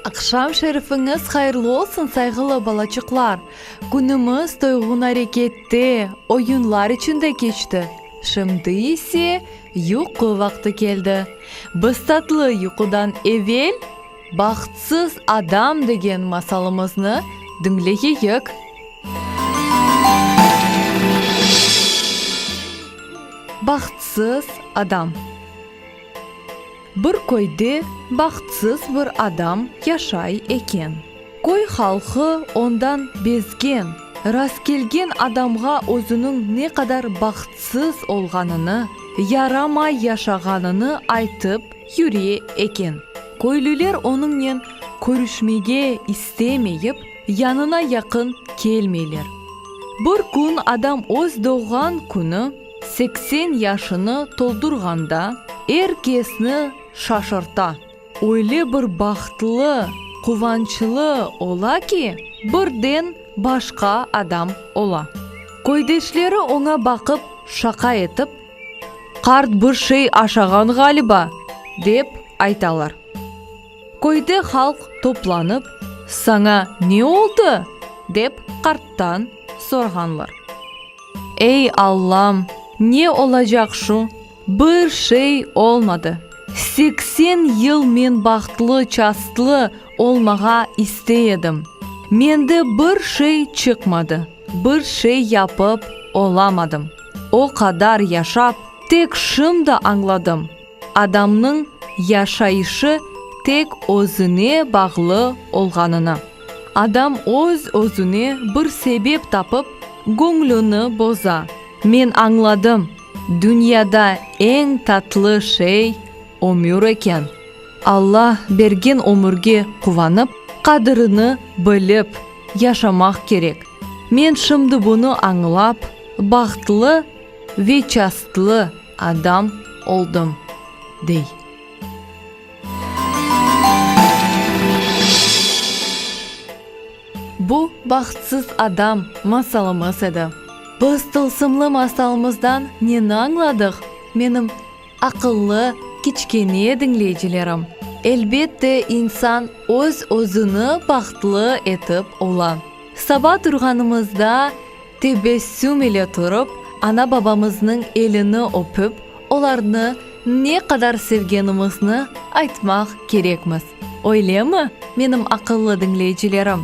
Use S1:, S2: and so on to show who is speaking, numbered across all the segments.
S1: Aqşam şerifiñiz hayırlı olsun, sayğılı balaçıqlar! Künümiz toyğun arekette, oyunlar içinde keçti. Şimdi ise, yuqu vaqtı keldi. Biz tatlı yuqudan evel. Bahtsız adam degen masalımıznı diñleyeyik. Bahtsız adam. Bir köyde bahtsız bir adam yaşay eken. Köy halqı ondan bezgen, rastkelgen adamğa özüniñ ne qadar bahtsız olğanını, yaramay yaşağanını aytıp, Yürü eken. Köylüler onıñnen körüşmege istemeyip, yanına yaqın kelmeyler. Bir kün adam öz doğğan künü, seksen yaşını toldurğanda, er kesni şaşırta. Öyle bir bahtlı, quvançlı ola ki, birden başqa adam ola. Köydeşleri oña baqıp şaqa etip. Qart bir şey aşağan ğaliba, dep aytalar. Köyde halq toplanıp, saña ne oldı? dep qarttan sorğanlar. Ey Allam, ne olacaq şu, bir şey olmadı. Seksen yıl men bahtlı-çastlı olmağa istey edim, mende bir şey çıqmadı. Bir şey yapıp olamadım. O qadar yaşap, tek şimdi añladım, adamnıñ yaşayışı tek özüne bağlı olğanını. Adam öz-özüne bir sebep tapıp, göñlüni boza. Men añladım, dünyada eñ tatlı şey, Ömür eken. Alla bergen ömürge quvanıp, qadirini bilip yaşamaq kerek. Men şimdi bunı añlap, bahtlı ve çastlı adam oldım, dey. Bu bahtsız adam masalımız edi. Biz tılsımlı masalımızdan neni añladıq? Menim. Aqıllı, kiçkene diñleyicilerim, elbette insan öz-özüni bahtlı etip ola. Saba turğanımızda tebessüm ile turıp, ana-babamıznıñ elini öpüp, olarnı ne qadar sevgenimizni aytmaq kerekmiz, öylemi, menim aqıllı diñleyicilerim?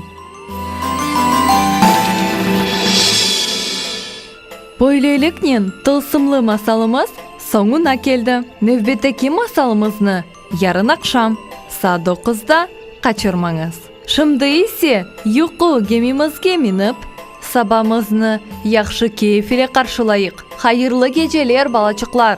S1: Böyleliknen, tılsımlı masalımız soñuna keldi. Nevbetteki masalımıznı, yarın aqşam, saat doquzda, qaçırmañız. Şimdi ise, yuqu gemimizge minip, sabamıznı yahşı keyf ile qarşılayıq. Hayırlı geceler, balaçıqlar!